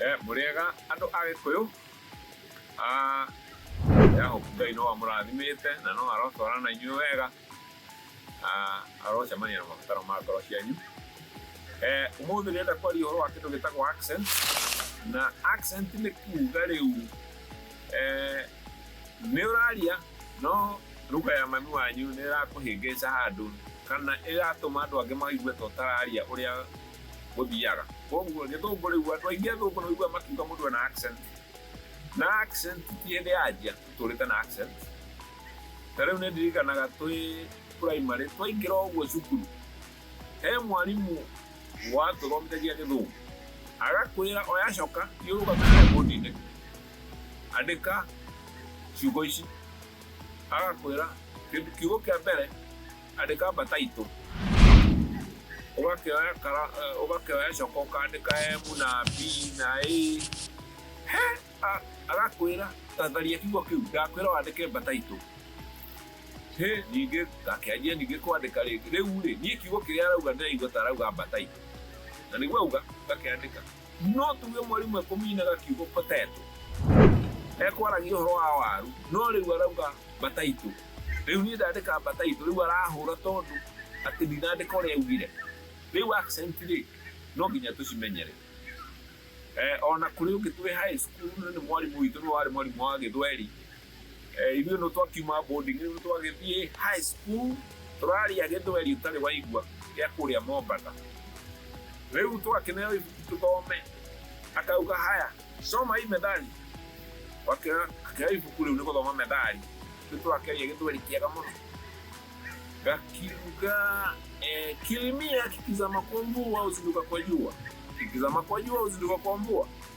Eh, mũrĩega andũ a gĩkũyũ Ah, ya hope ngai no amũrathimĩte na no arotwara na inyuĩ wega Ah, arocemania na mabataro ma ngoro cianyu Eh, ũmũthĩ ndĩrenda kwaria ũhoro wa kĩndũ gĩtagwo accent na accent nĩ kuuga rĩu eh, nĩ ũraria no ruga ya mami wanyu nĩ ĩrakũhĩngĩca handũ kana ĩratũma andũ angĩ maigue ta ũtararia ũrĩa gũthiaga koguo gĩthũngũ rĩu andũ aingĩ athũngũ no igua makiuga mũndũ ena accent na accent ti hĩndĩ yanjia tũtũrĩte na accent ta rĩu nĩ ndirikanaga twĩ primary twaingĩra ũguo cukuru he mwarimũ watũthomithagia gĩthũngũ agakwĩra oya coka thiũrũgamĩrĩra bũndi-inĩ andĩka ciugo ici agakwĩra kĩndũ kiugo kĩa mbere Andĩka mbata itũ. Ũgakĩoya kara- eh, ũgakĩoya coka ũkandĩka emu na bi na ĩ he a- agakwĩra tatharia kiugo kĩu ndakwĩra wandĩke mbata itũ hĩ ningĩ ngakĩanjia ningĩ kwandĩka rĩngĩ rĩu rĩ niĩ kiugo kĩrĩa arauga ndĩraigua ta arauga mbata itũ na nĩguo auga ngakĩandĩka No tuge mwarimũ ekũminaga kiugo potato. Ekwaragia ũhoro wa waru, no rĩu arauga bataitũ. Rĩu niĩ ndandĩka bataitũ, rĩu arahũra tondũ atĩ ndinandĩka ũrĩa augire. Rĩu accent rĩ, no nginya tũcimenyere. Eh, ona kũrĩ ũngĩ twĩ high school nĩ mwarimũ witũ nĩ warĩ mwarimũ wa gĩthweri, Ithuĩ nĩ twakiuma boarding rĩu twagĩthiĩ high school tũraria gĩthweri ũtarĩ waigua gĩa kũrĩa Mombatha. Rĩu twakĩneo ibuku tũthome, akauga haya soma hii methali, akĩoya ibuku rĩu nĩ gũthoma methali, rĩu tũrakĩaria gĩthweri kĩega mũno gakiuga eh, kilimia kikizama kwa mvua huzinduka kwa jua, kikizama kwa jua huzinduka kwa mvua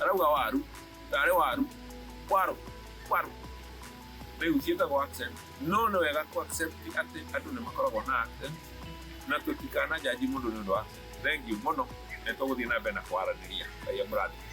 Arauga waru, tarĩ waru, waru, waru. Rĩu ciĩtagwo accent. No nĩ wega kũ accept atĩ andũ nĩ makoragwo na accent na tũtikanajanji mũndũ nĩ ũndũ wa accent. Thengiũ mũno, nĩ tũgũthiĩ na mbere na kwaranĩria. Ngai amũrathime.